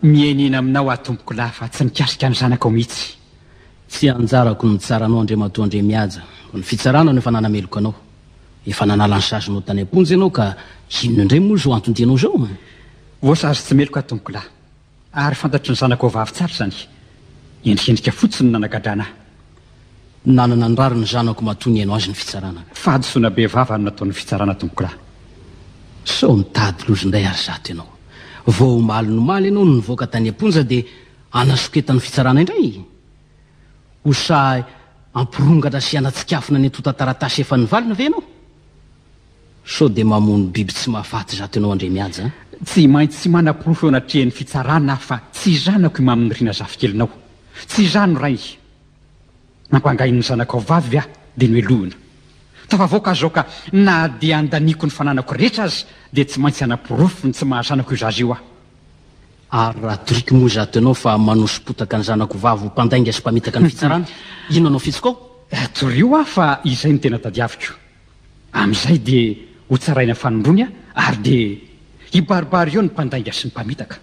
Mienina aminao aho tompoko lahy fa tsy mikasika ny zanakao mihitsy. Tsy anjarako ny mitsara anao Andriamatoa Andriamihaja, fa ny fitsarana no efa nanameloka anao. Efa nanala ny sazinao tany am-ponja ianao ka inona indray moa izao anton-dianao izao an? Voasazy tsy meloka aho tompoko lahy, ary fantatry ny zanakao vavy tsara izany, endrikendrika fotsiny no nanagadrana ahy. nanana ny rariny ny zanako matoa nihaino azy ny fitsarana ka. Fahadisoana be vava no nataon'ny fitsarana tompoko ra. Sao mitady loza indray ary zato ianao. Vao omaly nomaly ianao no nivoaka tany am-ponja dia hanasoketan'ny fitsarana indray? Ho sahy hampirongatra sy hanatsikafona ny antontan-taratasy efa nivalina ve ianao? Sao dia mamono biby tsy mahafaty zato ianao Andriamihaja a! Tsy maintsy manaporofo eo anatrehan'ny fitsarana aho fa tsy zanako i Maminirina zafikelinao. Tsy izaho no rainy. Nampangainy ny zanakao vavy ve aho dia nohelohina? Tafavoaka aho zao ka na dia andaniako ny fananako rehetra aza dia tsy maintsy hanaporofo ny tsy maha zanako io zaza io aho. Ary raha toriko moa izaho tenao fa manoso-potaka ny zanako vavy ho mpandainga sy mpamitaka ny fitsarana, inona no fihetsiko ao? Torio aho fa izay no tena tadiaviko. Amin'izay dia hotsaraina fanindroany aho ary dia hibaribary eo ny mpandainga sy ny mpamitaka.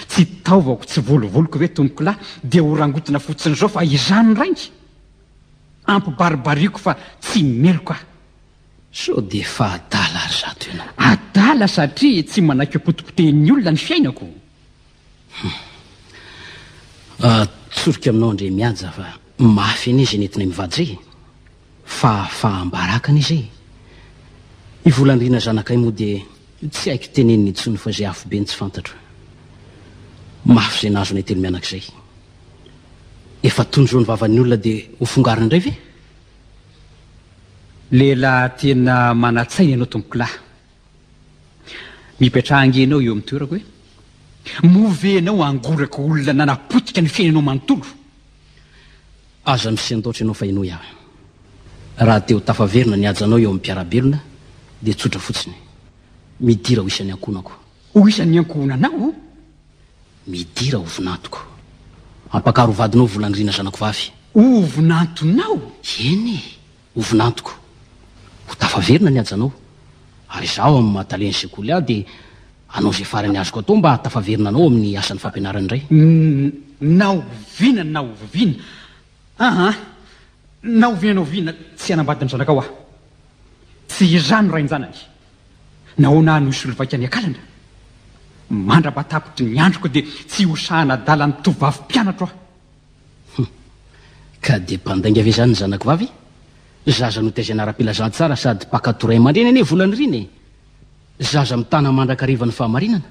Tsy taovako, tsy volovoloko ve tompokolahy dia ho rangotina fotsiny izao fa izany rainga? Ampibaribariako fa tsy meloka aho. Sao dia efa adala ry zato ianao? Adala satria tsy manaiky ho potipotehin'ny olona ny fiainako. Hum. Atsoriko aminao Andriamihaja fa mafy anie izay nentinay mivady izay e! fahafaham-baraka ne zay e! I Volandriana zanakay moa dia tsy haiko tenenina intsony fa izay afobe ny tsy fantatro. Mafy izay nahazo anay telo mianaka izay. Efa tony izao ny vavan'ny olona dia ho fongarina indray ve? Lehilahy tena manan-tsaina ianao tompokolahy. Mipetraha ange ianao eo amin'ny toerako e! Moa ve ianao hangoraka olona nanapotika ny fiainanao manontolo? Aza misendaotra ianao fa henoy aho. Raha te ho tafaverina ny hajanao eo amin'ny mpiara-belona dia tsotra fotsiny. Midira ho isan'ny ankohonako. Ho isan'ny ankohonanao aho? Midira ho vinantoko. Ampakaro ho vadinao Volandriana zanako vavy. Ho vinantonao? Eny e! Ho vinantoko, ho tafaverina ny hajanao, ary izaho amin'ny maha talen'ny sekoly ahy dia hanao izay farany azoko atao mba hahatafaverina anao amin'ny asan'ny fampianarana indray. N, na oviana na oviana, aa, na oviana na oviana, tsy hanambady ny zanakao aho. Tsy izaho no rain-janany. Nahoana aho no hisolovaika ny akalana? Mandra-batapitry ny androko dia tsy hosahana adala ny tovovavy mpianatro aho. Hum. Ka dia mpandainga ve izany ny zanako vavy? Zaza notaizana ara-pilazantsara sady mpankatò ray aman-dreny anie Volanirina e! Zaza mitana mandrakariva ny fahamarinana.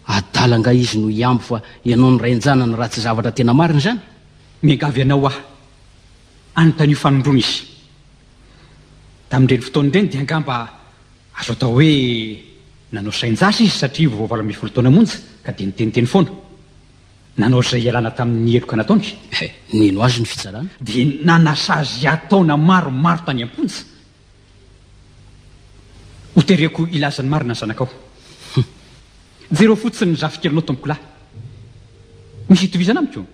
Adala angaha izy no hihambo fa ianao no rain-janany raha tsy zavatra tena marina izany? Miangavy anao aho, anontanio fanondroana izy. Tamin'ireny fotoana ireny dia angamba azo atao hoe nanao sain-jasa izy satria vao valo ambin'ny folo taona monja ka dia niteniteny foana. Nanao izay hialana tamin' ny heloka nataony. Nino azy ny fitsarana. Dia nanasa azy hiha-taona maromaro tany am-ponja. Hotereko hilaza ny marina ny zanakao. Jereo fotsiny ny zafikelinao tompokolahy. Misy itovizana amiko?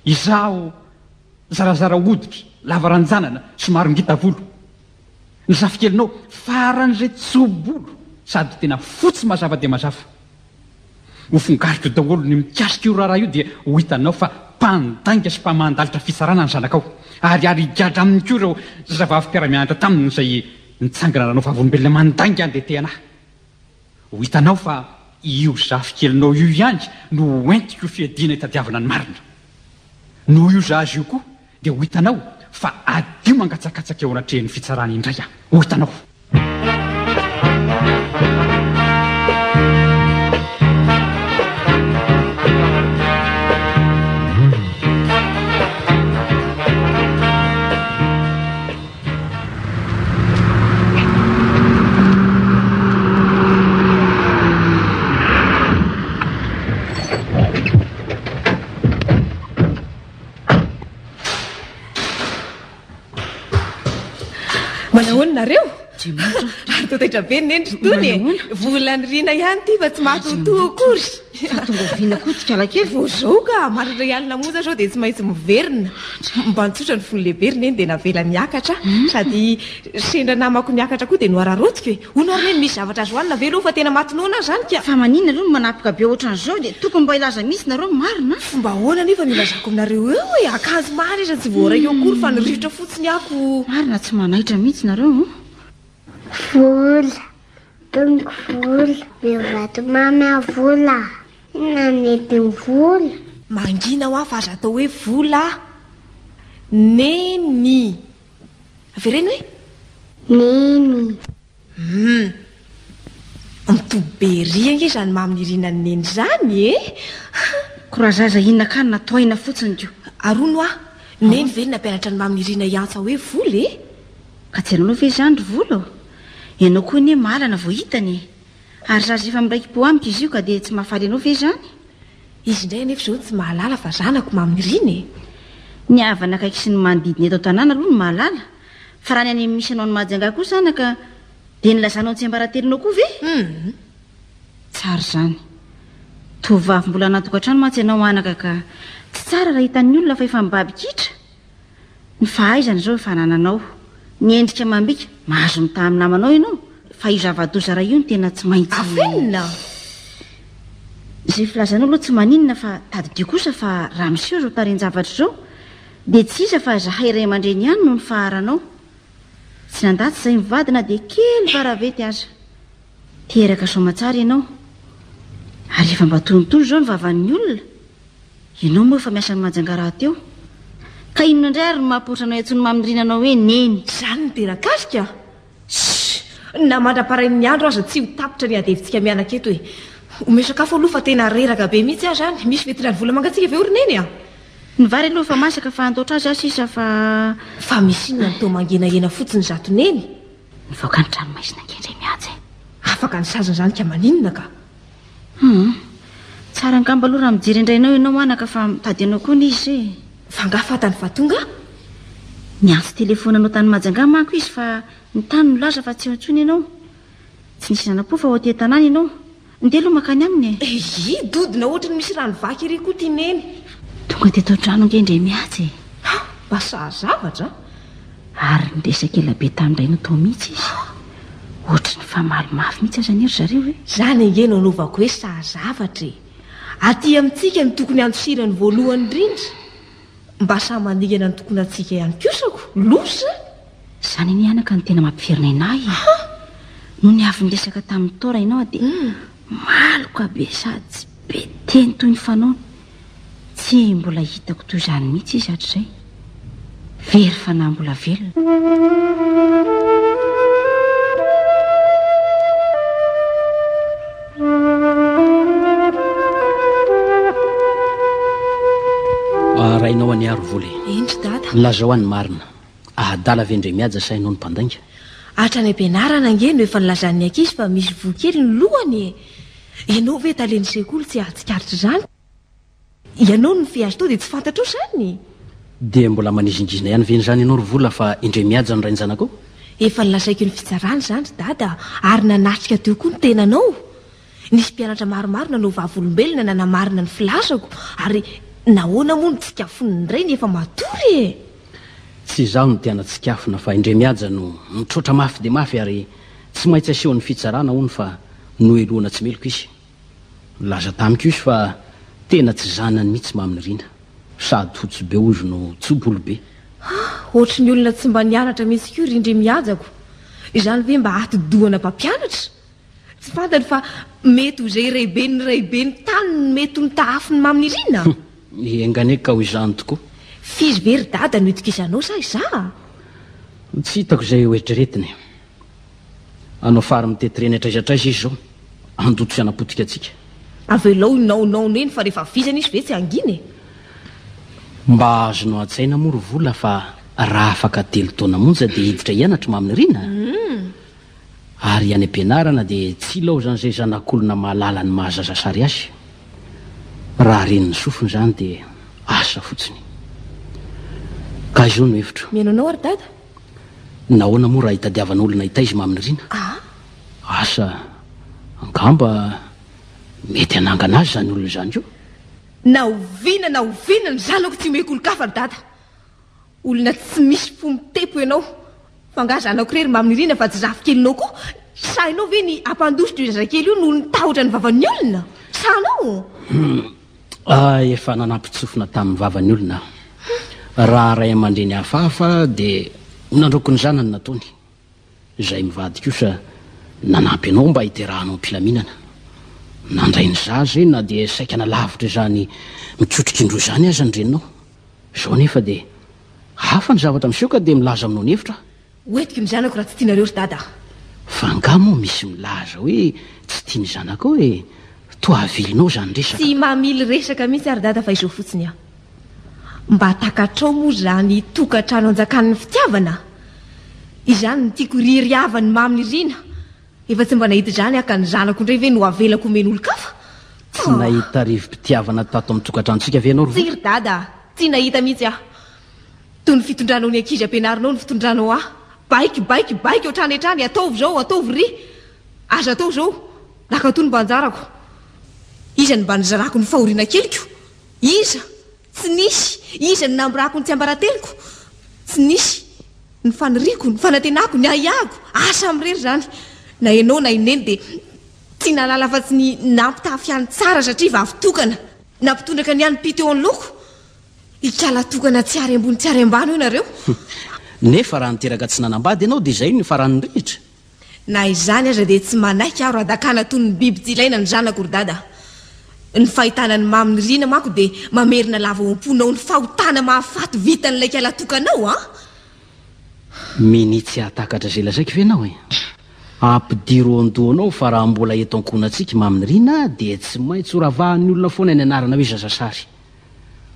Izaho zarazara hoditra, lava ranjanana, somary ngita volo. Ny zafikelinao faran'izay tso-bolo sady tena fotsy mazava dia mazava. Ho fongariko daholo ny mikasika io raharaha io dia ho hitanao fa mpandainga sy mpamandalitra fitsarana ny zanakao. Ary ary higadra aminy koa ireo zazavavy mpiara-mianatra taminy izay nitsangana nanao vavolombelona mandainga an'ilay te-hanahy. Ho hitanao fa io zafikelinao io ihany no hoentiko fiadiana hitadiavana ny marina. Noho io zaza io koa Dia ho hitanao fa hadio mangatsakatsaka eo anatrehan'ny fitsarana indray aho. Ho hitanao. Manahoana nareo? Ary totaitra be ny nendry tony e. Vola ny rina ihany ty fa tsy mahatotoa akory. Tonga vina koa tsy kala kely. Vao zao ka maro ray alina moza zao dia tsy maintsy miverina. Mba nitsotra ny fony lehibe ry neny dia navela niakatra hmm. sady sendra namako niakatra koa dia nohararaotiko e. Hono ary neny misy zavatra azo hanina ve aloha fa tena maty noana aho izany ka. Fa maninona aloha no manapoka be ohatran'izao dia tokony mba hilaza mihitsy nareo marina a. Fomba ahoana anefa no hilazako aminareo eo e, akanjo maro aza tsy voaraiko akory fa ny rivotra fotsiny ako. Marina tsy manaitra mihitsy nareo o. Vola, tonoko vola, meo vato mamy aho vola a. Inona no nety ny vola? Mangina hoa fa aza atao hoe vola a. Neny. Avereno e! Neny. Hum. Mitoby be ery ange izany mamin'ny irinan'i Neny izany e! Courageza inona kah na toaina fotsiny ko. Arono ah! Neny ve no nampianatra an'i mamin'i Irina hiantsa hoe vola e? Ka tsy ianao ve izany ry vola ô? Ianao koa anie mahalana vao hitany e! Ary zaza efa miraiki-po amiko izy io ka dia tsy mahafaly anao ve izany? Izy indray anefa izao tsy mahalala fa zanako mamirina e! Ny havana akaiky sy ny manodidina eto an-tanàna aloha no mahalala, fa raha ny any amin'ny misy anao ny Mahajanga koa zanaka dia ny lazanao ny tsiambaratelonao koa ve? Hum! Tsara izany. Tovovavy mbola anaty tokantrano mantsy ianao anaka ka, tsy tsara raha hitan'ny olona fa efa mibaby kitra. Ny fahaizana izao efa anananao. Ny endrika amam-bika, mahazo mitaha amin'ny namanao ianao, fa io zava-doza iray io no tena tsy maintsy. Afenina! Izay filazanao aloha tsy maninona fa tadidio kosa fa raha miseho izao tarehin-javatra izao dia tsy iza fa izahay ray aman-dreny ihany no nifaharanao. Tsy nandà tsy izay mivady na dia kely varavety aza. Teraka soamantsara ianao. Ary efa mba tonontono izao ny vavan'ny olona. Ianao moa efa miasa any Majanga rahateo ka inona indray ary no mahapoitra anao intsony mamindrina anao hoe neny. Izany no tena kasika a! Shh! Na mandra-parain'ny andro aza tsy ho tapitra ny adihevitsika mianaka eto e! Omeo sakafo aloha fa tena reraka be mihitsy aho izany. Misy vetin'ady vola mangatsiaka ve ry neny a? Ny vary aloha efa masaka fa andaotra azy aho sisa fa. Fa misy inona no toa mangenahena fotsiny izato neny? Nivoaka ny tranomaizina ange indray mihaja e! Afaka ny saziny izany ka maninona ka! Humm. Tsara angamba aloha raha mijery indray anao ianao anaka fa mitady anao koa ny izy e. Fa angaha fantany fa tonga? Niantso telefaona anao tany Majanga manko izy fa ny tany nilaza fa tsy eo intsony ianao. Tsy nisy nanampo fa ao aty an-tanàna ianao. Ndeha aloha mankany aminy e. Eyy, dodona ohatry ny misy rano vaky ery koa ity Neny. Tonga teto an-trano ange indray mihaja e. Hah, mba saha zavatra a. Ary niresaka ela be tamin'ny rainy tao mihitsy izy. Ohatry ny famaly mafy mihitsy aza anie ry zareo e! Izany ange no anaovako hoe saha zavatra e! Aty amintsika no tokony handosirany voalohany indrindra. Mba saha maningana ny tokonantsika ihany kosa ko! Loza! Izany anie anaka no tena mampiverinaina ahy e! Nony avy niresaka tamin'i Tora ianao dia maloka be sady tsy be teny toy ny fanaony. Tsy mbola hitako toy izany mihitsy izy hatrizay. Very fanahy mbola velona. Arahinao an'i Aro vola e. Indry dada. Lazao any marina. Ahadala ve Ndremihaja sa ianao no mpandainga? Hatrany am-pianarana ange no efa nilazan'ny ankizy fa misy voa kely ny lohany e! Ianao ve talen'ny sekoly tsy hahatsikaritra izany? Ianao no fihazo tao dia tsy fantatrao izany? Dia mbola manizingizina ihany ve an'izany ianao ry Vola fa i Ndremihaja no rain-janakao? Efa nolazaiko ny fitsarana izany ry Dada ary nanatrika teo koa ny tenanao! Nisy mpianatra maromaro nanao vavolombelona nanamarina ny filazako ary nahoana moa no tsikafony indray ny efa matory e? Tsy izaho no tena tsikafona fa Indremihaja no mitroatra mafy dia mafy ary tsy maintsy asehon'ny fitsarana hono fa nohelohina tsy meloka izy. Nilaza tamiko izy fa tena tsy zanany mihitsy Mamy Nirina. Sady fotsy be hoy izy no tso-bolo be. Ah, ohatry ny olona tsy mba nianatra mihitsy koa ry Indremihajako. Izany ve mba atidohana mpampianatra? Tsy fantany fa mety ho izay raiben'ny raiben'ny tany no mety ho nitahafy ny mamin'i Rina? Hum, enga anie ka ho izany tokoa. F'izy ve ry dada no itokisànao sa izaho? Tsy hitako izay hoeritreretiny. Hanao fary mitety reny hatraiza hatraiza izy izao, handoto sy hanapotika antsika. Avelao hinaonaona eny fa rehefa vizana izy ve tsy hangina e! Mba azonao an-tsaina moa ry Vola fa raha afaka telo taona monja dia hiditra hianatra mamin'i Rina? Hum! Ary any am-pianarana dia tsy ilaozana izay zanak'olona mahalala ny maha zaza sary azy. Raha ren'ny sofiny izany dia asa fotsiny. Ka izao no hevitro. Mihaino anao ary dada. Nahoana moa raha hitadiavan'olona hitaiza i maminirina? Aa! Asa, angamba mety hanangana azy izany olona izany io? Na oviana na oviana ny zanako tsy omeko olon-kafa ry dada. Olona tsy misy fo mitempo ianao. Fa angaha zanako irery maminirina fa tsy zafikelinao koa? Sahinao ve ny hampandositra io zazakely io noho ny tahotra ny vavan'ny olona? Sahanao? Ahy efa nanapitsofina tamin'ny vavan'ny olona aho. Raha ray aman-dreny hafahafa dia ho nandroako ny zanany nataony. izay mivady kosa nanampy anao mba hiterahanao am-pilaminana. Nandray ny zaza io na dia saika nalavitra izany mikitrokindro izany aza ny reninao. Izao anefa dia hafa ny zavatra miseho ka dia milaza aminao ny hevitro aho. Ho entiko ny zanako raha tsy tianareo ry dada aho. Fa angaha moa misy milaza hoe tsy tia ny zanakao e? Toa avilinao izany resaka. Tsy mamily resaka mihitsy aho ry dada fa izao fotsiny aho. Mba takatrao moa izany tokantrano anjakan'ny fitiavana? Izany no tiako ry ry havany mamy nirina. Efa tsy mba nahita izany aho ka ny zanako indray ve no avelako homeny olon-kafa? Tsy nahita rivo-pitiavana tato amin'ny tokantranontsika ve ianao ry Tsia ry dada a! Tsy nahita mihitsy aho. Toy ny fitondranao ny ankizy ampianarinao ny fitondranao ahy. Baiko, baiko, baiko hatrany hatrany, ataovy izao, ataovy ry! Aza atao izao! Nankatoa ny mba anjarako. Iza no mba nizarako ny fahoriana keliko? Iza? Tsy nisy. Iza no namborako ny tsiambarateloko? Tsy nisy. Ny faniriako, ny fanantenako, ny ahiahiko, ary samy irery izany. Na ianao na i Neny dia tsy nahalala afa-tsy ny nampitafy ahy tsara satria vavy tokana. Nampitondraka ny anim-py teo anoloako. Ikala tokana tsy ary ambony tsy ary ambany hoy ianareo. Nefa raha niteraka tsy nanambady ianao dia izay no faran'ny rihitra. Na izany aza dia tsy manaiky aho radakana toy ny biby tsy ilaina ny zanako ry dada. Ny fahitana ny mamin'i Rina manko dia mamerina lava ao am-ponao ny fahotana mahafaty vitan'ilay kialatokanao an! Minia tsy hahatakatra izay lazaiko ve ianao e? Ampidiro ao an-dohanao fa raha mbola eto ankohonantsika i mamin'i Rina dia tsy maintsy horavahan'ny olona foana ny anarana hoe zazasary.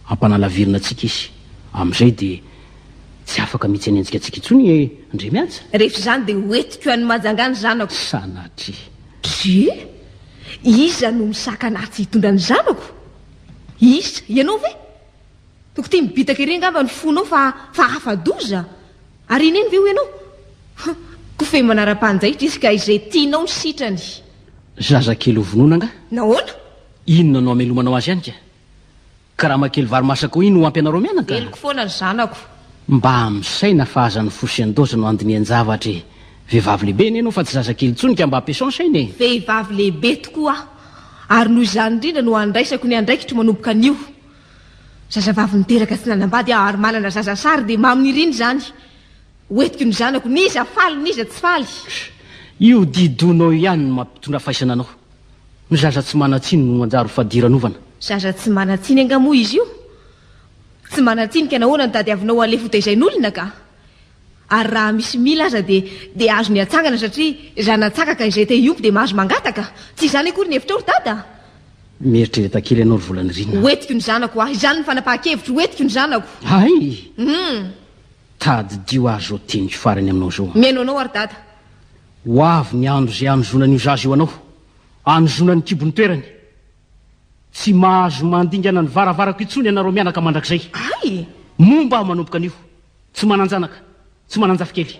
Ampanalavirina antsika izy. Amin'izay dia tsy afaka mihitsy hanenjika antsika intsony i Andriamihaja. Rehefa izany dia hoentiko any Majanga ny zanako. Sanatria. Kie? Iza no misakana ahy tsy hitondra ny zanako? Iza? Ianao ve? Toko tia mibitaka ery angamba ny fonao fa fa afa-doza. Ary i Neny ve hoy ianao? Huh! Kofehy manara-panjaitra izy ka izay tianao ny sitrany. Zazakely ho vonoina angaha? Nahoana? Inona no hamelomanao azy any ka? Karama kely vary masaka hoy iny ho ampy anareo mianaka? Heloky foana ry zanako. Mba misaina fa aza ny fosy endozy no andinian-javatra e! Vehivavy lehibe anie ianao fa tsy zaza kely intsony ka mba ampiasao saina e! Vehivavy lehibe tokoa aho ary noho izany indrindra no andraisako ny andraikitro manomboka anio. Zazavavy niteraka tsy nanambady aho ary manana zaza sary dia mamo niriny izany. Ho entiko ny zanako n'iza faly n'iza tsy faly. Sh! Io didoinao io ihany no mampitondra faisana anao. Ny zaza tsy manan-tsiny no manjary fadiranovana. Zaza tsy manan-tsiny angaha moa izy io? Tsy manan-tsiny ka nahoana no tadiavinao ho alefa hotaizain'olona ka? Ary raha misy mila aza dia dia azony hatsangana satria zana-tsaka ka izay te hiompy dia mahazo mangataka. Tsy izany akory ny hevitrao ry dada a! Mieritrereta kely ianao ry Volanirina a! Hoentiko ny zanako hoa! Izany ny fanapahan-kevitro, hoentiko ny zanako! Hay! Hum! Tadidio ary izao teniko farany aminao izao a! Mihaino anao aho ry dada. Ho avy ny andro izay hanozonan'io zaza io anao, hanozonany kibon'ny toerany. Tsy mahazo mandingana ny varavarako intsony ianareo mianaka mandrakizay. Ay! Momba aho manomboka anio, tsy manan-janaka, tsy manan-jafikely.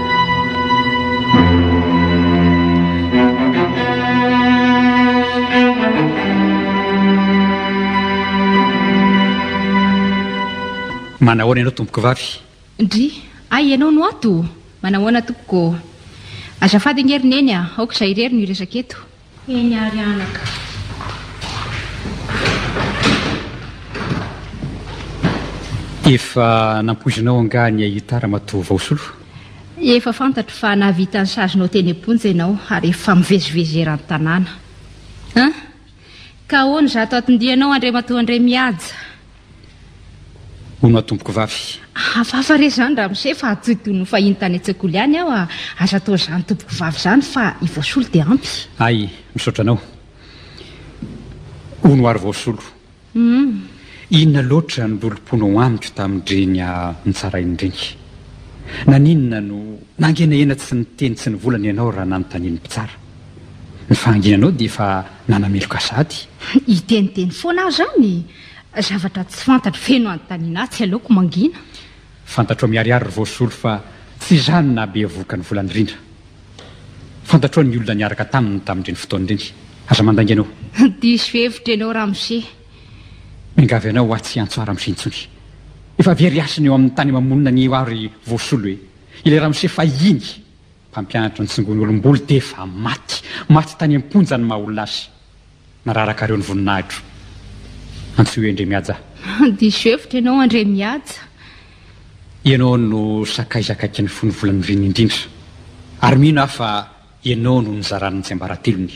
Manahoana ianao tompoko vavy? Ndry, ay ianao no ato? Manahoana tompoko? Azafady ange ry neny a, aoka izaho irery no hiresaka eto. Eny ary anaka. Efa nampoizinao angaha ny ahita ramatoa vao solo? Efa fantatro fa nahavita ny sazinao teny am-ponja ianao ary efa mivezivezy eran-tanàna. An! Ka ahoana izato atin-dianao Andriamatoa Andriamihaja? hono aho tompokovavy. Hafahafa re izany ramose fa tsy toy ny ho fahiny tany an-tsekoly ihany aho a! Aza atao izany tompokovavy izany fa i Voasolo dia ampy. Hay, misaotra anao. Hono ary Voasolo. Hum. Inona loatra no lolomponao amiko tamin-dreny nitsarain'ireny? Naninona no nangenahena tsy niteny tsy nivolana ianao raha nanontanian'ny mpitsara? Ny fahanginanao dia efa nanameloka sahady. Hiteniteny foana aho izany? Zavatra tsy fantatro feno anontaniana atsy aleoko mangina. Fantatro miharihary ry voasolo fa tsy izany nahabevohoka ny volany rindra. Fantatro ny olona niaraka taminy tamin'ireny fotoana ireny. Aza mandainga anao. Diso hevitra ianao ramose. Miangavy anao atsy hiantso ahy ramose intsony. Efa very hasina eo amin'ny tany mamonina anio aho ry voasolo e. Ilay ramose fahiny mpampianatra ny tsongon'olom-bolo dia efa maty. Maty tany am-ponja ny maha olona azy. Nararaka reo ny voninahitro Antsoy hoe Andriamihaja. Diso hevitra ianao Andriamihaja. Ianao no sakaizakaiky ny fon'ny volany reny indrindra. Ary mino aho fa ianao no nizarany ny tsiambaratelony.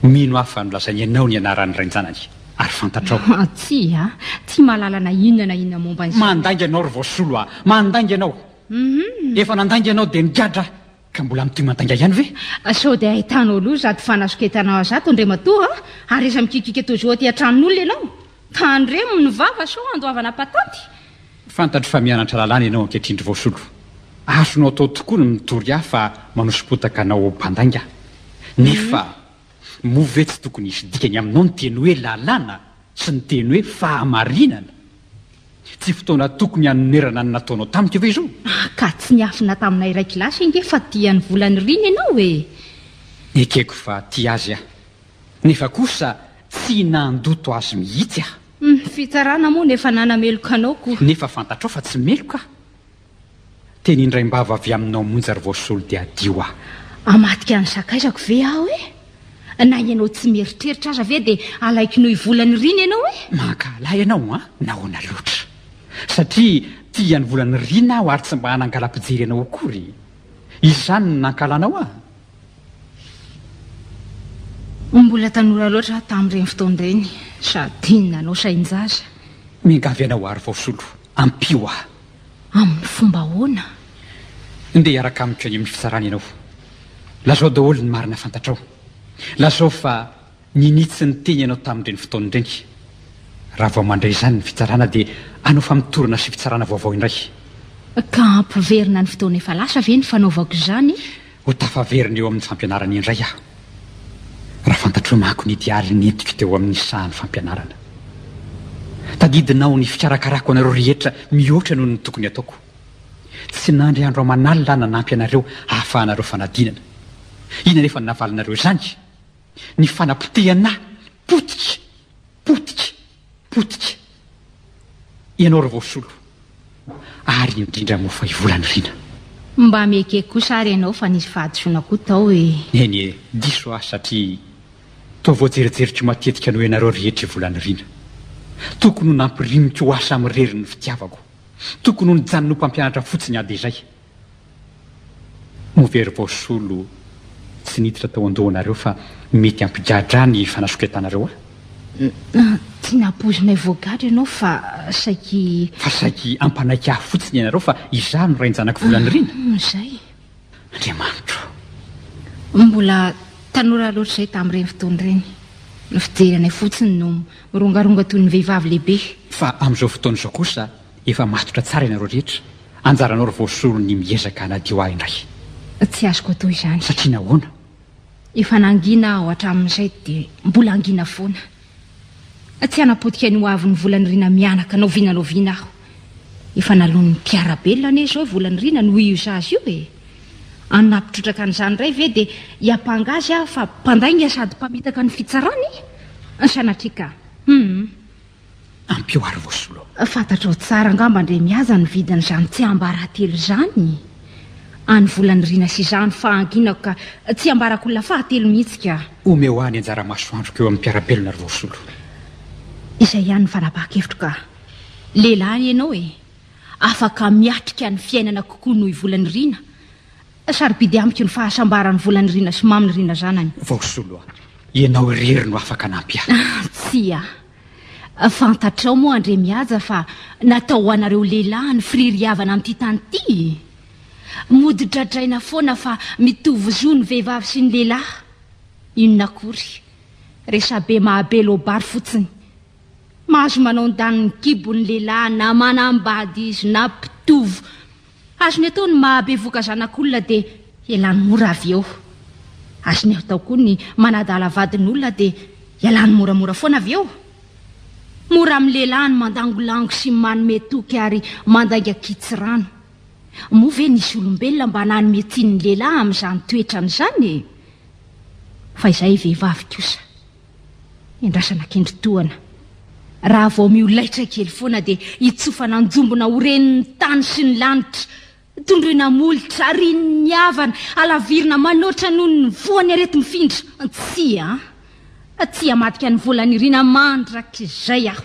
Mino aho fa nolazainy ianao ny anaran'ny rain-janany. Ary fantatrao. Tsia, tsy mahalala na inona na inona momba an'izany. Mandainga ianao ry Voasolo a! Mandainga ianao. Efa nandainga ianao dia nigadra. Ka mbola mitohy mandainga ihany ve? Sao dia ahitanao loza ato fanasoketanao azy ato Andriamatoa a! Ary iza mikikika tojo aty an-tranon'olona ianao? Tandremo ny vava sao handoavana patanty! Fantatro fa mianatra lalàna ianao ankehitriny ry Voasolo. Azonao atao tokoa ny mitory ahy fa manoso-potaka anao ao mpandainga. Nefa. Moa ve tsy tokony hisy dikany aminao ny teny hoe lalàna sy ny teny hoe fahamarinana? Tsy fotoana tokony hanonerana ny nataonao tamiko ve izao? Ah ka tsy niafina taminay iray kilasy ange fa tia ny vola niriny ianao e! Ekeko fa tia azy aho, nefa kosa tsy nandoto azy mihitsy aho. Ny fitsarana moa no efa nanameloka anao koa. Nefa fantatrao fa tsy meloka aho. Teny indraim-bava avy aminao monja ry vao solo dia adio aho. Hamadika ny sakaizako ve aho e? Na ianao tsy mieritreritra aza ve dia alaiko noho volany rina ianao e? Mankahala ianao an? Nahoana loatra? Satria tia an'i volany rina aho ary tsy mba hanangala-pijery anao akory. Izany no nankahalanao aho? Mbola tanora loatra aho tamin'ireny fotoana ireny, sady nanao sain-jaza. Miangavy anao aho ry vao solo, ampio aho. Amin'ny fomba ahoana? Ndeha hiaraka amiko any amin'ny fitsarana ianao. Lazao daholo ny marina fantatrao. Lazao fa ninitsy ny teny ianao tamin'ireny fotoana ireny. Raha vao mandray izany ny fitsarana dia hanao famotorana sy fitsarana vaovao indray. Ka hampiverina ny fotoana efa lasa ve ny fanaovako izany? Ho tafaverina eo amin'ny fampianarana indray aho, raha fantatrao manko ny diary nentiko teo amin'ny sahan'ny fampianarana. Tadidinao ny fikarakarako anareo rehetra mihoatra noho ny tokony ataoko. Tsy nandry andro aman'alina aho nanampy anareo hahafahanareo fanadinana. Inona anefa no navalinareo izany? Ny fanapotehana potika! Potika! Potika ianao ry Voasolo ary indrindra moa fa i Volanirina. Mba miekeky kosa ary ianao fa nisy fahadisoana koa tao e! Eny e, diso aho satria toa voajerijeriko matetika noho ianareo rehetra i Volanirina. Tokony ho nampirimiko ho asa mirery ny fitiavako. Tokony ho nijanony ho mpampianatra fotsiny aho dia izay. Ho very vao solo tsy niditra tao an-dohanareo fa mety hampigadra ny fanasoketanareo ahy? Tsy nampoizinay voagadra ianao fa saiky. Fa saiky hampanaiky ahy fotsiny ianareo fa izaho no rain-janak'i Volanirina? Izay. Andriamanitro! Mbola tanora loatra izahay tamin'ireny fotoana ireny. Ny fijery anay fotsiny no mirongaronga toy ny vehivavy lehibe. Fa amin'izao fotoana izao kosa. Efa matotra tsara ianareo rehetra, anjaranao ry voasolo ny miezaka hanadio ahy indray. Tsy azoko atao izany. Satria nahoana? Efa nangina aho hatramin'izay dia mbola hangina foana. Tsy hanapotika ny hoavin'ny volan'i Rina mianaka na oviana na oviana aho. Efa naloan'ny mpiara-belona anie izao volan'i Rina noho io zaza io e! Hanaptrotraka an'izany indray ve dia hiampanga azy aho fa mpandainga sady mpamitaka ny fitsarana e! Sanatria ka! Hum! Ampio ary vao solo. Fantatrao tsara angamba Andriamihaza ny vidin'izany tsiambaratelo izany? Any volanirina sy izany fa anginako ka tsy ambarako olona fahatelo mihitsy ka. Omeo ahy ny anjara masoandroko eo amin'ny mpiara-belona ry vao solo. Izay ihany ny fanapahan-kevitro ka. Lehilahy ianao e! Afaka miatrika ny fiainana kokoa noho i volanirina. Sarobidy amiko ny fahasambaran'ny vola nirina sy mamy nirina zanany. Vaosolo a! Ianao irery no afaka nampy ahy. Tsia. Fantatrao moa andre Mihaja fa natao ho anareo lehilahy ny firiry havana amin'ity tany ity e! Mody dradraina foana fa mitovy zo ny vehivavy sy ny lehilahy. Inona akory. Resabe mahabe loabary fotsiny. Mahazo manao ny daniny kibo ny lehilahy na manambady izy na mpitovo Azony atao ny mahabevoka zanak'olona dia ialany mora avy eo. Azony atao koa ny manadala vadin'olona dia ialany moramora foana avy eo. Mora amin'ny lehilahy ny mandangolango sy manome toky ary mandainga kitsirano. Moa ve nisy olombelona mba nanome tsiny ny lehilahy amin'izany toetrany izany? Fa izahay vehivavy kosa. Endrasana akendry tohana. Raha vao miolaitra kely foana dia hitsofana anjombona ho renin'ny tany sy ny lanitra. Tondroina molotra, rinin'ny havana, halavirina manoatra noho ny voan'ny areti-mifindra. Tsia, tsia hamadika ny volan'irina mandrakizay aho.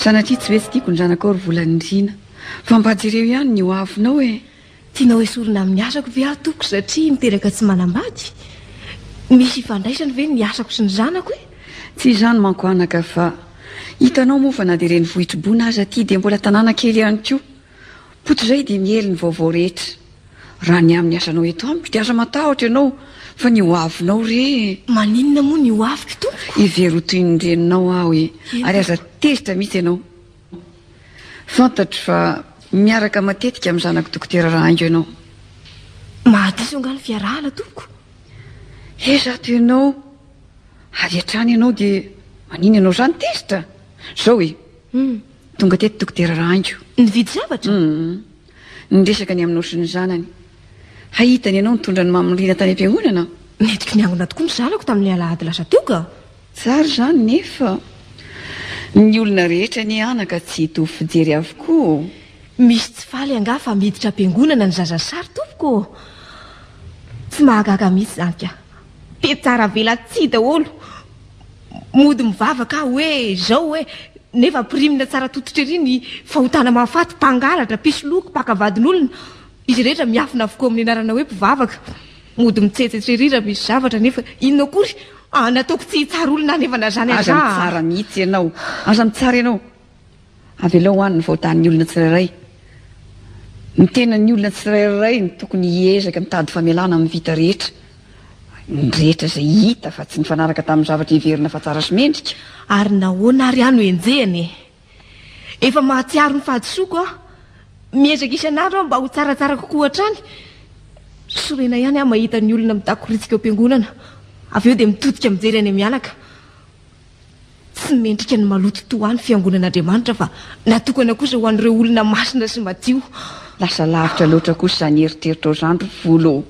Sanatria tsy hoe tsy tiako ny zanakao ry volanindriana fa mba jereo ihany ny ho avinao e tianao esorina amin'ny asako ve aho toko satria miteraka tsy manambady misy ifandraisany ve ny asako sy ny zanako e tsy izany manko anaka fa hitanao moa fa na dia renivohitribona aza aty dia mbola tanàna kely ihany koa Koto izay dia miely ny vaovao rehetra. Raha ny amin'ny asanao eto amiko dia aza matahotra ianao fa ny hoavinao re. Maninona moa ny hoaviko tompoko? Hevero ho toy ny reninao aho e. Ary aza tezitra mihitsy ianao. Fantatro fa miaraka matetika amin'ny zanako dokotera Rahaingo ianao. Mahadiso angaha ny fiarahana tompoko? He zato ianao. Avy hatrany ianao dia maninona ianao izany tezitra? Izao e. Tonga teto Dokotera Rahaingo. Nividy zavatra? Niresaka ny aminao sy ny zanany. Hahita ny anao nitondra an'i Mamy Rina tany am-piangonana aho. Nentiko niangona tokoa ny zanako tamin'ny alahady lasa teo ka. Tsara izany nefa ny olona rehetra anie anaka tsy hitovy fijery avokoa ô. Misy tsy faly angaha fa miditra am-piangonana ny zaza sary tompoko ô. Tsy mahagaga mihitsy izany ka. Mpihatsaravelatsihy daholo. Mody mivavaka aho hoe izao hoe, nefa ampirimina tsara tototra ery ny fahotana mahafaty, mpangalatra, mpisoloky, mpaka vadin'olona. Izy rehetra miafina avokoa amin'ny anarana hoe mpivavaka. Mody mitsetsetra ery raha misy zavatra, nefa inona akory? Nataoko tsy hitsara olona any efa na zany aza aho. Aza mitsara mihitsy ianao. Aza mitsara ianao. Avelao any ny vahotan'ny olona tsirairay. Ny tenan'ny olona tsirairay no tokony hiezaka mitady famelana amin'ny vita rehetra. Ny rehetra izay hita fa tsy nifanaraka tamin'ny zavatra heverina fa tsara sy mendrika. Ary nahoana ary aho no enjehina e? Efa mahatsiaro ny fahadisoako aho. Miezaka isan'andro aho mba ho tsaratsara kokoa hatrany. Sorena ihany aho mahita ny olona mitakoritika eo am-piangonana, avy eo dia mitodika mijery any am-mianaka. Tsy mendrika ny maloto toa ny fiangonan'Andriamanitra fa natokana kosa ho an'ireo olona masina sy madio. Lasa lavitra loatra kosa izany eritreritrao izany ry Volo ô!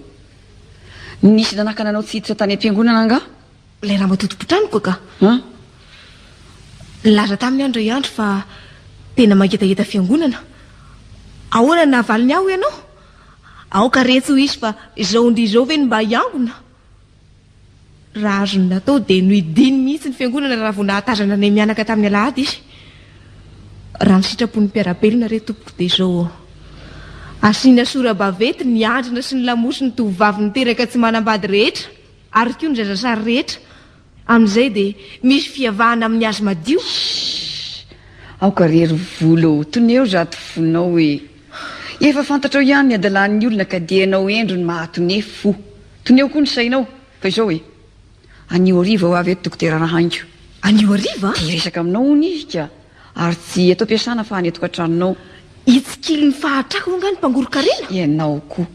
Nisy nanakana anao tsy hiditra tany am-piangonana angaha? Ilay ramatoa tompon-tranoko ka. An? Nilaza taminy aho indray andro fa tena mangetaheta fiangonana. Ahoana no navaliny ahy hoy ianao? Aoka re tsy ho hisy fa izao ndia izao ve no mba hiangona? Raha azony natao dia nohidiany mihitsy ny fiangonana raha vao nahatazana ny mianaka tamin'ny alahady izy. Raha ny sitrapon'ny mpiara-belona re tompoko dia izao ô. Asiana sora-bavety ny andrina sy ny lamosy ny tovovavy niteraka tsy manambady rehetra ary koa ny zazasary rehetra Amin'izay dia misy fiavahana amin'ny hazo madio. Shhh! Aoka re ry volo ô, toneo zato fonao e! Efa fantatrao ihany ny hadalan'ny olona ka dia ianao endriny mahatoné fo. Toneo koa ny sainao, fa izao e! Anio hariva ho avy eto dokotera Rahaingo. Anio hariva? Te hiresaka aminao hono izy ka! Ary tsy eto am-piasana fa any an-tokantranonao. Hitsikilo ny fahatrako moa angaha ny mpangoron-karena? Ianao koa.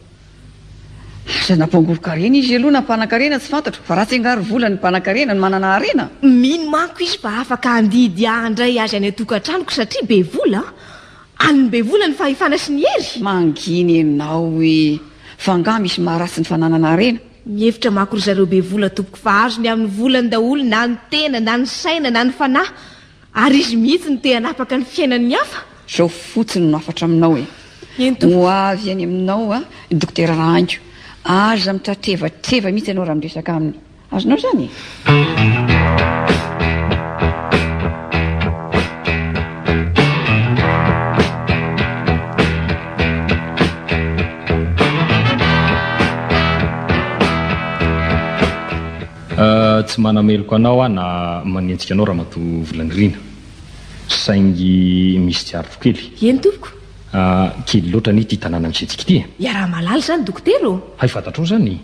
Aza na mpangoron-karena izy aloha na mpanan-karena tsy fantatro, fa ratsy angaha ry vola ny mpanan-karena no manana harena? Mino manko izy fa afaka handidy ahandray azy any an-tokantranoko satria be vola. An'ny be vola ny fahefana sy ny hery. Mangina ianao ee! Fa angaha misy maharatsy ny fananana harena? Mihevitra manko ry zareo be vola tompoko fa azony amin'ny volany daholo na ny tena na ny saina na ny fanahy. Ary izy mihitsy no te hanapaka ny fiainan'ny hafa? Izao fotsiny no hafatra aminao e. Ento. Ho avy any aminao a, i Dokotera Rahaingo. Aza mitratrevatreva mihitsy ianao raha miresaka aminy. Azonao izany e? Tsy manameloka anao aho na manenjika anao Ramatoa Volanirina, saingy misy tsy ariko kely. Eny tompoko. Kely loatra anie ity tanàna misentsika ity e! Iaraha-mahalala izany dokotera ô! Hay fantatrao izany e!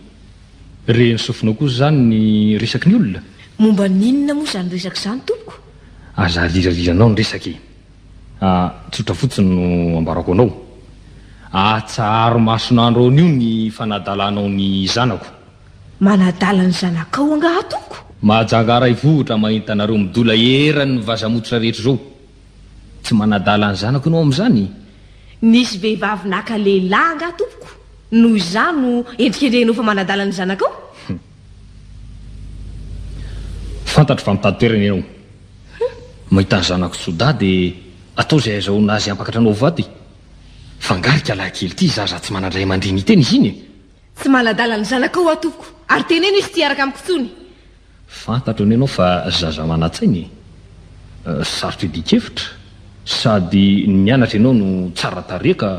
Rehen'ny sofinao kosa izany ny resaky ny olona? Momba ny inona moa izany resaka izany tompoko? Aza aliraliranao ny resaka e! Tsotra fotsiny no ambarako anao. Atsaharo mason'andro anio ny fanadalanao ny zanako. Manadala ny zanakao angaha tompo? Mahajanga aray vohotra mahita anareo midola eran'ny vaza mototra rehetra izao. Tsy manadala ny zanako ianao amin'izany? Nisy vehivavy naka lehilahy angaha tompoko noho izany no endrikendrehinao fa manadala ny zanakao? Hum. Fantatro fa mitady toerana ianao. Hum. Mahita ny zanako tsy ho dahy dia atao izay azahoana azy hampakatra anao ho vady. Fa angaha ry kialahy kely ity zaza tsy manan-dray aman-dreny hiteny izy iny e? Tsy manadala ny zanakao aho tompoko, ary teneno izy tsy hiaraka amiko intsony. Fantatro ny anao fa zaza manan-tsaina e! Sarotra idikevitra, sady ny mianatra ianao no tsara tarehy ka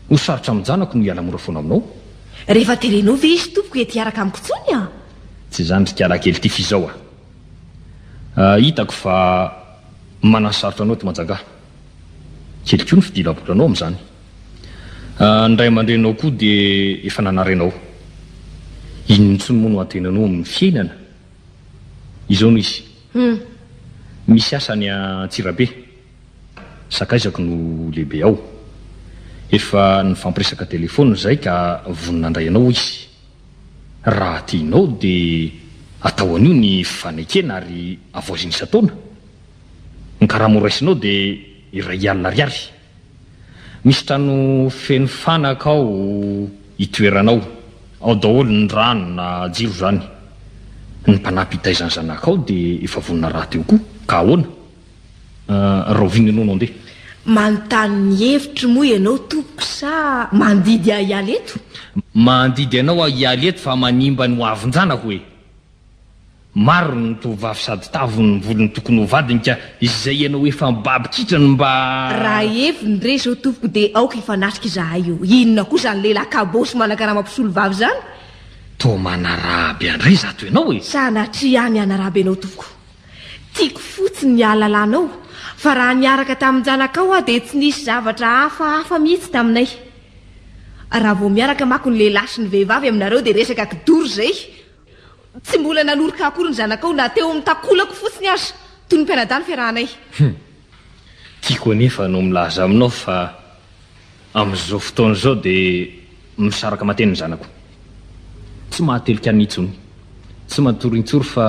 ho sarotra amin'ny janako ny hiala mora foana aminao. Rehefa teneno ve izy tompoko ety hiaraka amiko intsony a! Tsy izany ry kialakely ity f'izao a! hitako fa manansarotra anao eto Manjanga. Kely koa ny fidilabolanao amin'izany. Ny ray aman-dreninao koa dia efa nanary anao. Inona intsony moa no antenainao amin'ny fiainana? Izao no izy. Hum. Misy asa any Antsirabe. Sakaizako no lehibe ao. Efa nifampiresaka telefaonina izahay ka vonona handray anao, hoy izy. Raha tianao dia atao anio ny fanekena ary havaozina isan-taona. Ny karama horaisinao dia iray alina ariary. Misy trano feno fanaka ao itoeranao, ao daholo ny rano na jiro izany. Ny mpanampy hitaiza ny zanakao dia efa vonona rahateo koa, ka ahoana? Rahoviana ianao no handeha? Manontany ny hevitro moa ianao tompoko sa mandidy ahy hiala eto? Mandidy anao aho hiala eto fa manimba ny hoavin-janako e! Maro ny tovovavy sady tavy ny volony tokony ho vadiny ka izay ianao efa mibaby kitra no mba. Raha heviny re zao tompoko de aoka hifanatrika izahay eo, inona koa zany lehilahy kabôsy manakarama mpisolovavy zany? Toa manaraby andry izato ianao e! Sanatria ny hanaraby anao tompoko, tiako fotsiny ny hahalalanao fa raha niaraka tamin-janakao aho de tsy nisy zavatra hafa hafa mihitsy taminay. Raha vao miaraka mako ny lehilahy sy ny vehivavy aminareo de resaka kidoro zay, Tsy mbola nanoroka akory ny zanakao na teo amin'ny takolako fotsiny aza, toy ny mpianadahy ny fiarahanay. Hum. Tiako anefa no milaza aminao fa amin'izao fotoana izao dia misaraka mateny ny zanako. Tsy mahatelika an'i intsony. Tsy matory intsory fa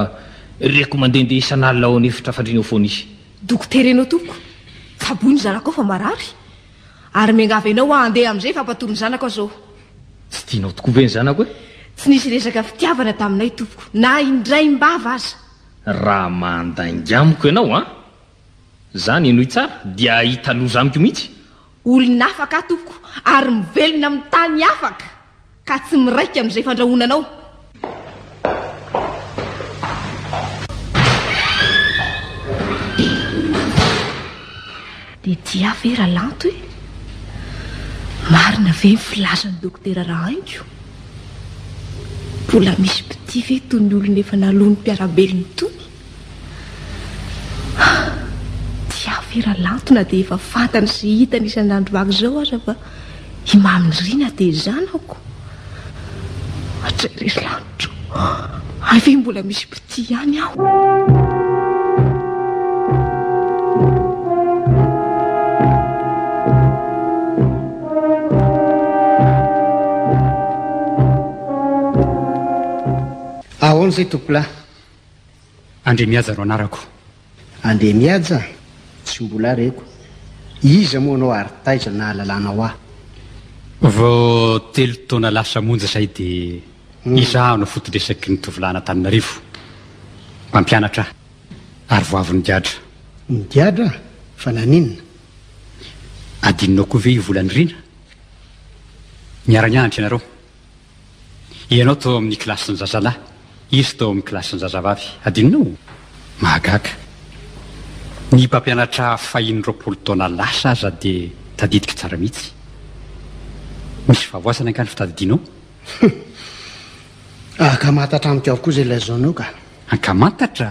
reko mandehandeha isan'alina ao an'efitra fandriana ao foana izy. Dokotera ianao tompoko. Tsaboin'ny zanakao fa marary. Ary miangavy anao aho handeha amin'izay fa mpatory ny zanako aho izao. Tsy tianao tokoa ve ny zanako e? Tsy nisy resaka fitiavana taminay tompoko, na indraim-bava aza. Raha mandainga amiko ianao an! Izany henoy tsara dia hahita loza amiko mihitsy. Olon'afaka aho tompoko ary mivelona amin'ny tany afaka. Ka tsy miraika amin'izay fandrahonanao. Dia tsy ahy ve Ralanto e? Marina ve ny filazan'i Dokotera Rahaingo? Mbola misy mpitia ve itony olona efa naloan'ny mpiara-belony itony? Tsy avy ra lanto na dia efa fantany sy hitany isan'andro araka izao aza fa i Mamy Nirina dia zanako. Jereo ry lanitra ô! Hay ve mbola misy mpitia ihany aho? Ahoana izay tompolahy? Andriamihaja no anarako. Andriamihaja? Tsy mbola reko. Iza moa anao ary taiza nahalalanao ahy? Vao telo taona lasa monja izay dia hmm. izaho no foto-dresaky ny tovolahin'Antananarivo. Mpampianatra aho ary vao avy nigadra. Nigadra? Fa naninona? Adinonao koa ve io volan'ny rina? Niara-nianatra ianareo. Ianao tao amin'ny kilasin-jazalahy, izy tao amin'ny kilasin-jazavavy. Adinonao? Mahagaga. Ny mpampianatra fahiny roapolo taona lasa aza dia tadidiko tsara mihitsy. Misy fahavoazana angaha ny fitadidianao? Ankamantatra amiko avokoa izay lazainao ka. Ankamantatra?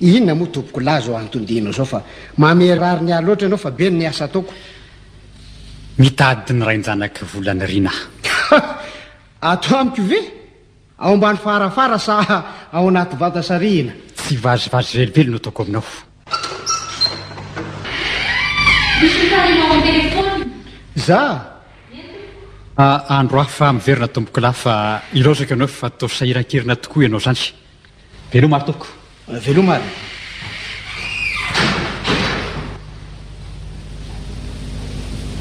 Inona moa tompoko lahy zao antondianao zao fa mamerariny ahy loatra ianao fa be ny asa ataoko. Mitady ny rain-janaky volana ry na. Ato amiko ve? Ao ambany farafara sa ao anaty vata sarihina? Tsy vazivazy velively no ataoko aminao. Misy mpitarika ao an-telefaonina. Za? Andro hafa miverina tompoko lahy fa ilaozako ianao fa toa sahirankirina tokoa ianao zany. Veloma ary tompoko. Veloma ary.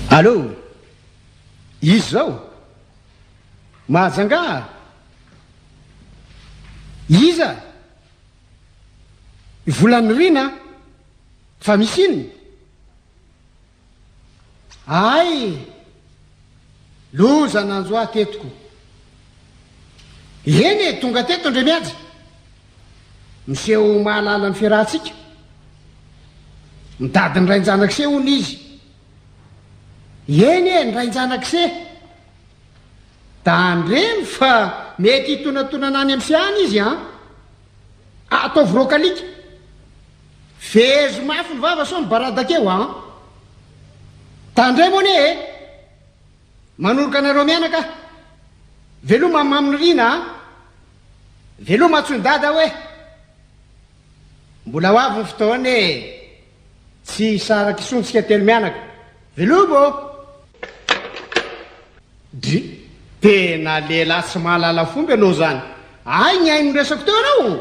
Allo! Izy zao? Mahajanga? Iza? Volanirina? Fa misy inona? Ahay! Loza nanjo ahy teto ko. Eny e, tonga teto ndry mihaja. Miseho mahalala ny fiarahantsika. Midady ny rain-janak'ise hono izy. Eny e, ny rain-janak'ise. Tandremo fa mety hitonatonana any amin'ise any izy an. Ataovy rock alika. Vezo mafy ny vava sao mibaradaka eo an! Tandremo anie e! Manoroka anareo mianaka aho. Veloma an Mamy Nirina an! Veloma Antsoindada hoe! Mbola ho avy ny fotoana e! Tsy hisaraka isontsika telo mianaka. Veloma ô! Dry, tena lehilahy tsy mahalala fomba ianao izany. Hay ny ahy no resako teo ianao ô!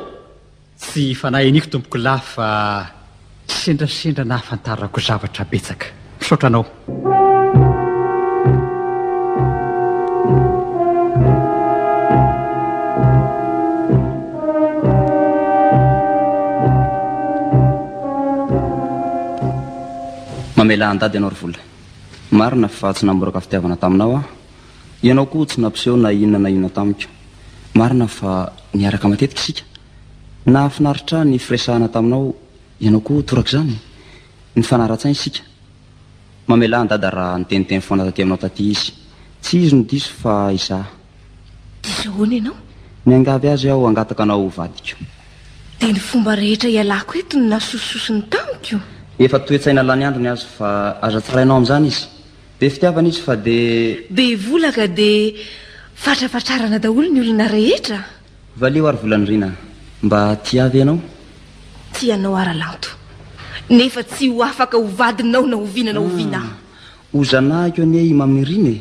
Tsy fanahy iniako tompoko lahy fa sendrasendra nahafantarako zavatra betsaka. Misaotra anao. Mamelà an-dady ianao ry Vola. Marina fa tsy namboraka fitiavana taminao aho. Ianao koa tsy nampiseho na inona na inona tamiko. Marina fa niaraka matetika isika. Nahafinaritra ahy ny firesahana taminao, ianao koa torak'izany. Nifanara-tsaina isika. Mamelà an'i Dada raha niteniteny foana taty aminao taty izy. Tsy izy no diso fa izaho. Diso ahoana ianao? Miangavy azy aho hangataka anao ho vadiko. Dia ny fomba rehetra ialako eto no nasosososony tamiko? Efa toe-tsaina lany andro ny azy fa aza tsarainao amin'izany izy. Be fitiavana izy fa dia. Be vola ka dia fatrapatrarana daholo ny olona rehetra. Valio ary volanirina. Mba tia ve ianao? Tia anao Aralanto. Nefa tsy ho afaka ho vadinao na oviana na oviana aho. Ho zanahiko anie i Mamy Nirina e!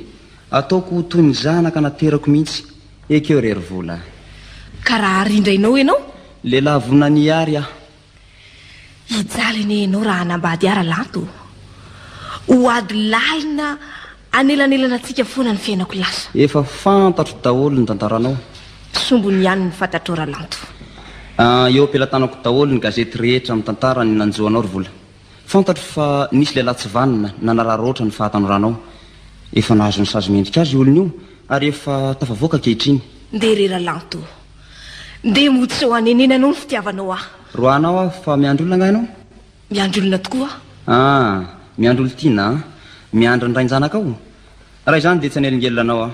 Ataoko ho toy ny zanaka naterako mihitsy. Ekeo re ry vola a! Ka raha àry indray nao ianao? Lehilahy vonona ny hiary aho. Hijaly anie ianao raha hanambady ahy Ralanto o! Ho ady lalina anelanelanantsika foana ny fiainako lasa. Efa fantatro daholo ny tantaranao. Sombiny ihany ny fantatrao Ralanto. Eo am-pelatanako daholo ny gazety rehetra mitantara ny nanjo anao ry vola. Fantatro fa nisy lehilahy tsy vanona nanararaotra ohatry ny fahatanoranao. Efa nahazo ny sazy mendrika azy io olona io ary efa tafavoaka ankehitriny. Ndeha re Ralanto. Ndeha mody sao hanenenanao ny fitiavanao ahy. Roahanao aho fa miandry olona angaha ianao? Miandry olona tokoa aho. Ah, miandry olon-tiana an! Miandry ny rain-janakao? Raha izany dia tsy hanelingelina anao aho.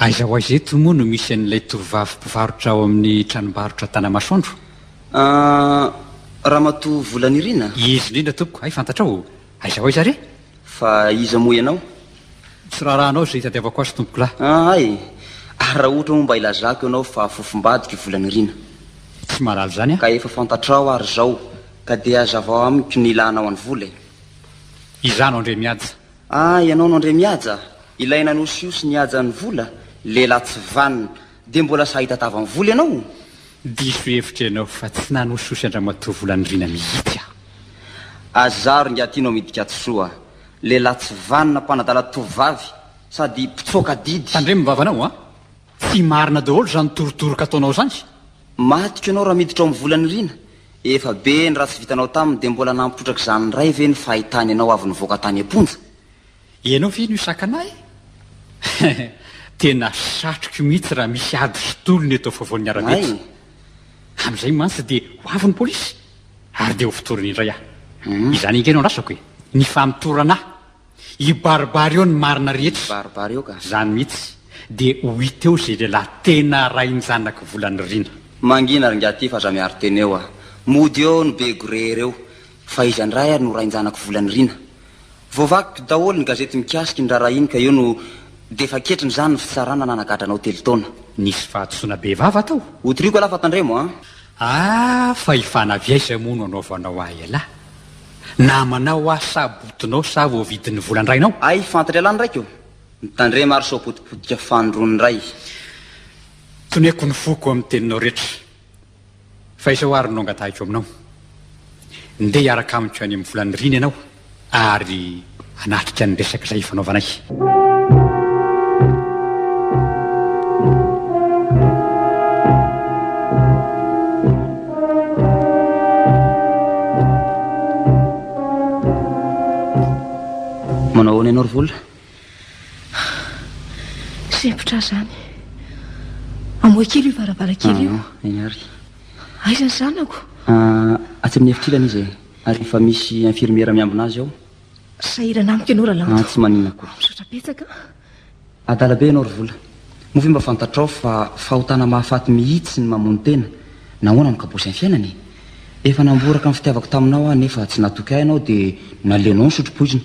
Aiza ho aiza eto moa no misy an'ilay tovovavy mpivarotra ao amin'ny tranombarotra Tanamasoandro? Ahh, Ramatoa Volanirina? Izy indrindra tompoko, hay fantatrao o! Aiza ho aiza re? Fa iza moa ianao? Tsy raharahanao izay hitadiavako azy tompoko lahy. Ahh, hay! Ary raha ohatra moa mba ilazako ianao fa fofombadiko i Volanirina? Tsy mahalala izany aho. Ka efa fantatrao ary izao ka dia hazavao amiko ny ilànao an'i Vola e! Izaho no Andriamihaja. Ah ianao no Andriamihaja, ilay nanosiosy ny hajan'ny vola, lehilahy tsy vanona, dia mbola sahy tatavan'ny vola ianao? Diso hevitra ianao fa tsy nanosihosy an-dramatoa Volandriana mihitsy aho. Azy zaro ingahy Tino Midikatsisoa, lehilahy tsy vanona, mpanadala tovovavy sady mpitsoaka adidy. Tandremo ny vavanao an! Tsy marina daholo izany torotoroka ataonao izany. Matiko ianao raha miditra ao amin'ny Volaniriana. Efa be ny ratsy vitanao taminy dia mbola nampotraka izany indray ve ny fahitany anao avy nivoaka tany am-ponja? Ianao ve no hisakana ahy? Tena satriko mihitsy raha misy ady sy tolona eto afovoan'ny arabe etsy. Amin'izay mantsy dia ho avy ny polisy ary dia ho fotoriny indray aho. Izany ange no andrasako e, ny famotorana ahy. Hibaribary eo ny marina rehetra. Hibaribary eo ka. Zany mihitsy de ho hita eo ze lehilahy tena rain-janaky vola nirina. Mangina ry Ngiaty fa za miaro tena eo a! Mody eo ny be gré reo fa iza ndray ary no rain-janaky vola nirina? Voavaky daholo ny gazety mikasika iny raharaha iny ka eo no defa ketriny zany ny fitsarana nanagadra anao telo taona. Nisy fahadisoana be vava tao. Ho toriako alaha fa tandremo a! Ah fa i Fanavy aiza moa no anaovanao ahy elah? Namanao aho sa botinao sa voavidin'ny volan-drainao? Hay fantatra elah ny raiko o! Mitandrema ary sao potipotika fanondron'ny ray. Toniako ny foko amin'ny teninao rehetra. Fa izao ary no angatahiko aminao. Ndeha hiaraka amiko any amin'ny volan'ny Rina ianao. ary hanatrika ny resaka izay ifanaovanay. Manao ahoana ianao ry vola? Sempotra izany. Amoha kely io varavarankely io. Ah, eny ary. Aiza ny zanako? Ah, atsy amin'ny efitrila izy e. Ary efa misy infirmiera miambina azy ao. Sahirana amiko ianao Ralanto. Ah, tsy maninona akory. Misaotra betsaka. Adala be ianao ry Vola. Moa ve mba fantatrao fa fahotana mahafaty mihitsy ny mamono tena? Nahoana no kabosin'ny fiainana e? Efa namboraka ny fitiavako taminao aho nefa tsy natoky ahy ianao dia naleonao nisotro poizina.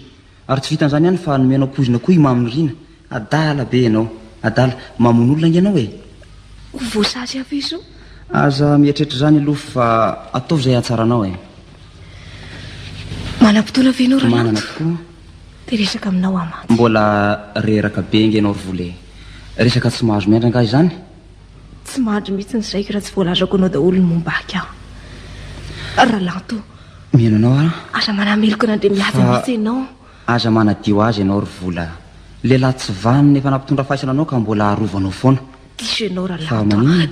Ary tsy vitan'izany ihany fa nomenao poizina koa i Mamy Nirina. Adala be ianao. Adala. Mamono olona ange ianao e! Ho voasazy avy eo izao. Aza mieritreritra izany aloha fa ataovy izay hahatsaranao e! Manam-potoana ve ianao Rananto? Manana tokoa. Te hiresaka aminao aho mantsy. Mbola reraka be ange ianao ry Vola e! Resaka tsy mahazo miandry angaha izany? Tsy mandry mihitsy ny saiko raha tsy voalazako anao daholo ny momba ahy ka. Ralanto. Mino anao aho. Aza manameloka an'Andriamihaja mihitsy ianao. Aza manadio azy ianao ry vola. Lehilahy tsy vanona efa nampitondra faisana anao ka mbola arovanao foana. Diso ianao Ralanto ah.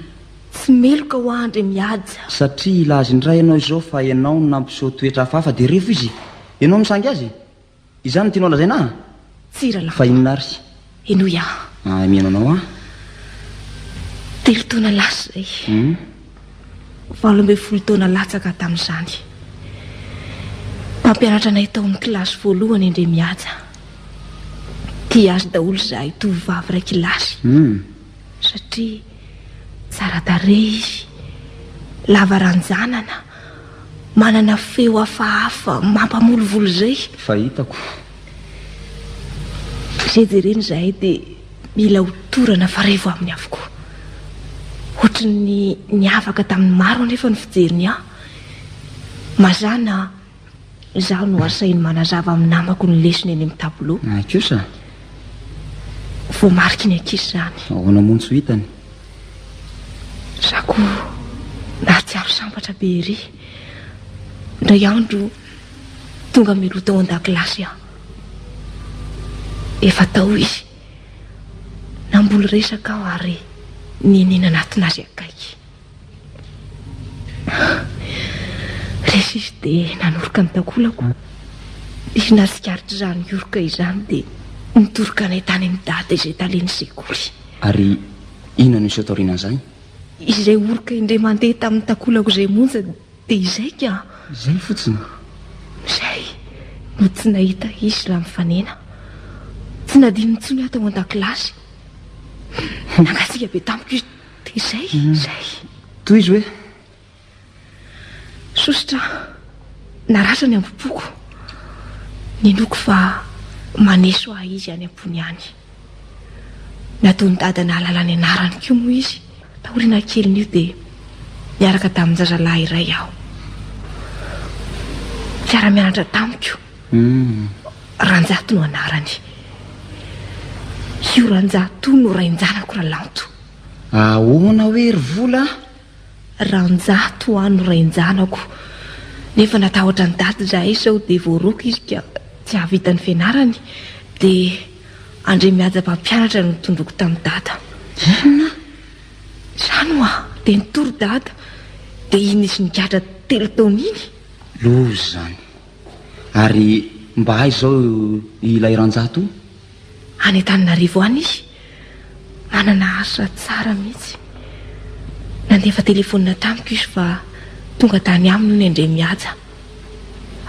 Tsy meloka ho ahy Andriamihaja. Satria hilaza indray ianao izao fa ianao no nampiseho toetra hafahafa dia revo izy. Ianao no sangy azy. Izany no tianao lazaina ahy? Tsia ralamba. Fa inona ary? Henoy aho. Ah, mihaino anao aho. Telo taona lasa izay. Hum. Valo ambin'ny folo taona latsaka tamin'izany. Mpampianatra anay tao amin'ny kilasy voalohany indray mihaja. Tia azy daholo izahay tovovavy iray kilasy. Hum. Satria tsara tarehy izy, lava ranjanana. manana feo hafahafa mampamolivolo izay. Fahitako. Izay jerena izahay dia mila ho torana fa revo aminy avokoa. Ohatry ny niavaka tamin'ny maro anefa ny fijeriny ahy. Mazàna. Izaho no asainy manazava amin'ny namako ny lesona eny amin'ny tablo. Ay kosa. Voamariky ny ankizy izany. Ahoana moa ny tsy ho hitany? Za ko nahatsiaro sambatra be ery. Indray andro tonga mialoha tao an-dakilasy aho. Efa tao izy. Namboly resaka aho ary nihinina natona azy akaiky. Rehefa dia nanoroka ny takolako, izy natsikaritra izany hioroka izany dia nitoroka anay tany amin'ny dada izay talen'ny sekoly. Ary inona no niseho taoriana an'izay? Izay oroka indray mandeha tamin'ny takolako izay monja dia izay ka. Izay fotsiny? Izay no tsy nahita izy raha mifanena. Tsy nadininy intsony aho tao an-dakilasy. Nangatsiaka be tamiko izy Dia izay, izay. Tohizo hoe. Sosotra aho. Narasa ny ambo-poko. Ninoako fa maneso ahy izy any am-pony any. Nataon'i dada nahalala ny anarany koa moa izy. Taoriana kelin'io dia niaraka tamin-jazalahy iray aho. Fiara-mianatra tamiko. Hmm. Ranjato no anarany. Io Ranjato no rain-janako Ralanto. Ahoana hoe ry vola a? Ranjato an no rain-janako. Nefa natahotra an'i Daty izahay sao dia voaroaka izy ka tsy hahavita ny fianarany. Dia Andriamihaja mpampianatra no tondroiko tamin'i Dada. Inona? Izany ho'a! Dia nitory Dada. Dia iny nisy nigadra telo taona iny. Loza izany. Ary mba aiza izao ilay Ranjato? any Antananarivo any izy. Manana asa tsara mihitsy. Nandefa telefonina tamiko izy fa tonga tany aminy hono indray mihaja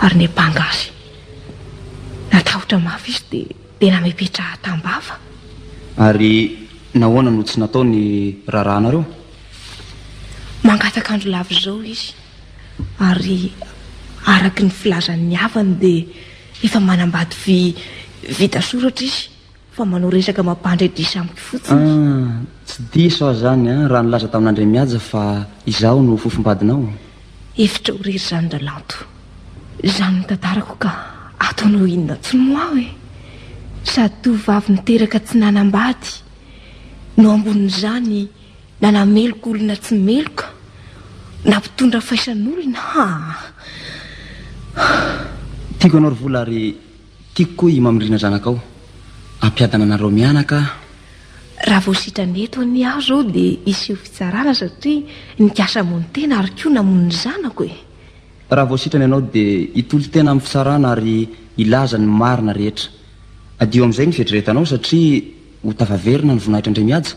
ary niampanga azy. Natahotra mafy izy dia tena mipetraha tam-bava. Ary nahoana no tsy natao ny raharahanareo? Mangataka andro lava izao izy ary araka ny filazan'ny havany dia Efa manambady vy vita soratra izy fa manao resaka mampandre diso amiko fotsiny. Ah, tsy diso aho izany an, raha nilaza tamin'Andriamihaja fa izaho no fofombadinao. Efitra ho rery izany Ralanto. Izany notantarako ka ataonao inona tsy moa aho e? Sady tovovavy niteraka tsy nanambady no ambonin'izany Na nameloka olona tsy meloka, na mpitondra faisan'olona, haa! Tiako anao ry Vola ary tiako koa i Mamirina zanakao. Ampiadana anareo mianaka aho. Raha vao sitrana eto anie aho izao dia hiseho fitsarana satria nikasa hamono tena ary koa namono ny zanako e! Raha vao sitrana ianao dia hitory tena amin'ny fitsarana ary hilaza ny marina rehetra. Adio amin'izay ny fieritreretanao satria ho tafaverina ny voninahitr'Andriamihaja.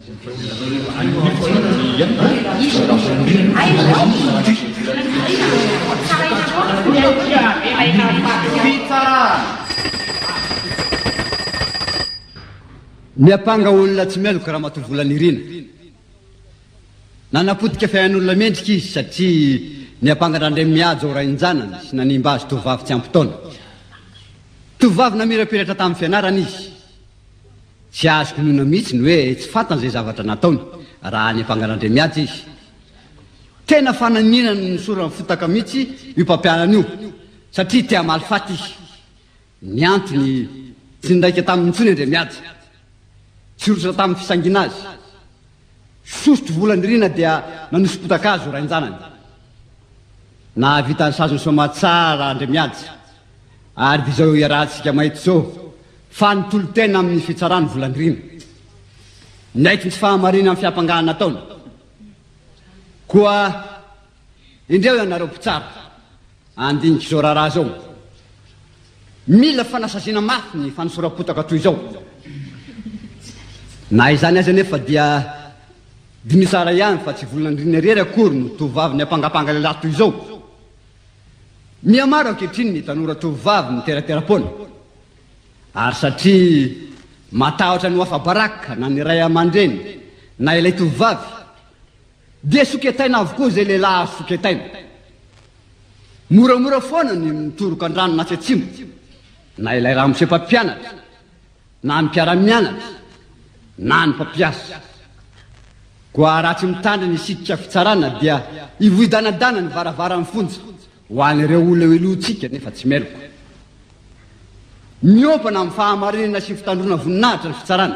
Miampanga olona tsy meloka Ramatoa Volanirina. Nanapotika fiainan'olona mendrika izy satria niampanga an-dRandriamihaja ho rain-janany sy nanimba azy tovovavy tsy ampy taona. Tovovavy namirapiratra tamin'ny fianarana izy. Tsy azoko inoana mihitsy ny hoe tsy fantany izay zavatra nataony raha any Ampangalandriamihaja izy. Tena fananina ny nosorany fotaka mihitsy io mpampianany io satria te hamaly faty izy. Ny antony, tsy niraika taminy intsony Andriamihaja. Tsy rosotra tamin'ny fisangiana azy. Fisosotra vola nirina dia nanoso-potaka azy ho rain-janany. Nahavita ny sazy nisaoma tsara Andriamiady ary dia izao iarahantsika maheto izao fa nitolo-tena amin'ny fitsarany vola nirina. Niaiky ny tsy fahamarinan'ny fiampangana nataony. Koa. Indreo ianareo mpitsara handinika izao raharaha izao. Mila fanasaziana mafy ny fanosoram-potaka toy izao. Na izany aza anefa dia diniho tsara ihany fa tsy volon'andriana irery akory no tovovavy niampangapanga lehilahy toy izao. Mihamaro ankehitriny ny tanora tovovavy miteratera-poana. Ary satria matahotra ny ho afa-baraka na ny ray aman-dreny na ilay tovovavy, Dia soketaina avokoa izay lehilahy azo soketaina. Moramora foana ny mitoroka an-drano na tsy atsimo, na ilay ramose mpampianatra, na ny mpiara-mianatra, na ny mpampiasa. Koa raha tsy mitandrina isika fitsarana dia hivoy danadana ny varavaran'ny fonja ho an'ireo holeoleontsika nefa tsy meloka. Miompana amin'ny fahamarinana sy ny fitandroana voninahitra ny fitsarana.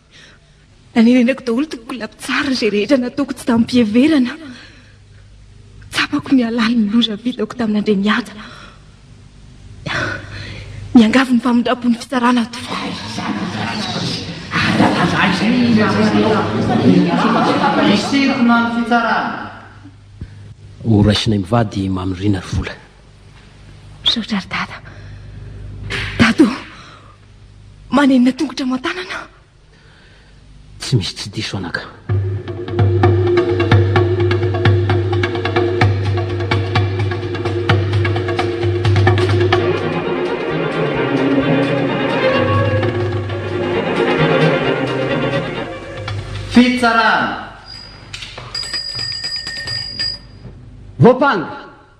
Nanerenako daholo toko kolapitsariny izay rehetra nataoko tsy tamim-piheverana. Tsapako ny halalin'ny loza vitako tamin'i Andriamihaja. Miangavy ny famindram-pon'ny fitsarana ato. Isintona ny fitsarana. Horaisinay mivady i Mamy Rina ry Vola. Misaotra ry dada. Dado, manenina tongotra aman-tanana. Tsy misy tsy diso anaka. Fitsarana. Voampanga.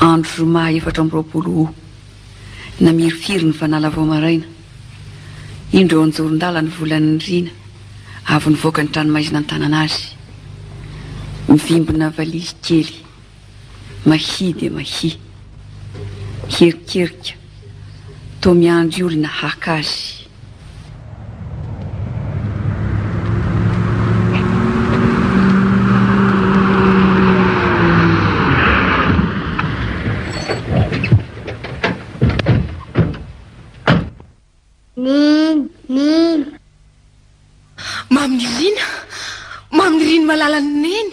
Andro zoma efatra amby roapolo Août, namirifiry ny fanala vao maraina. Indro eo an-joron-dala ny volan'ny nirina avy nivoaka ny tranomaizina an-tanana azy. Mivimbina valizy kely, mahia dia mahia. Hierikerika, toa miandry olona haka azy. Mamirina, mamiriny malalan'i Neny.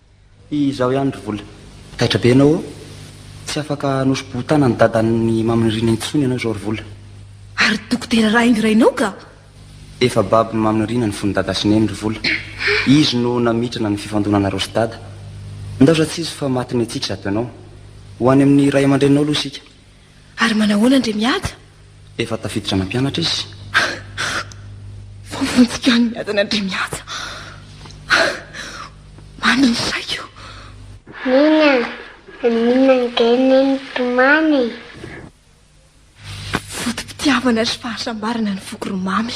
Izaho ihany ry vola. Taitra be ianao ô! Tsy afaka hanosi-bohon-tanan'i dadan'i Mamy Nirina intsony ianao izao ry vola. Ary dokotera raingo rainao ka! Efa babon'i Mamy Nirina ny fon'i dada sy neny ry vola. Izy no namintrana ny fifandonanareo sy dada. Ndaoza tsy hisy fa matin'ny tsiky zato ianao. Ho any amin'ny ray aman-dreninao aloha isika. Ary manahoana an-dry Miada? Efa tafiditra nampianatra izy. Voavonjika any miadana an-dry Miada. Mamy ny saiko. Nina, maninona ange ne nitomany e? Foto-pitiavana sy fahasambarana ny foko ry Mamy.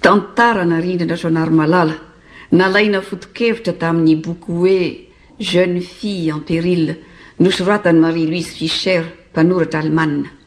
Tantara narindra an-dRasoanary Malala, nalaina foto-kevitra tamin'ny boky hoe Jeunes filles en péril, nosoratan'i Marie-Louise Fischer, mpanoratra Alemana.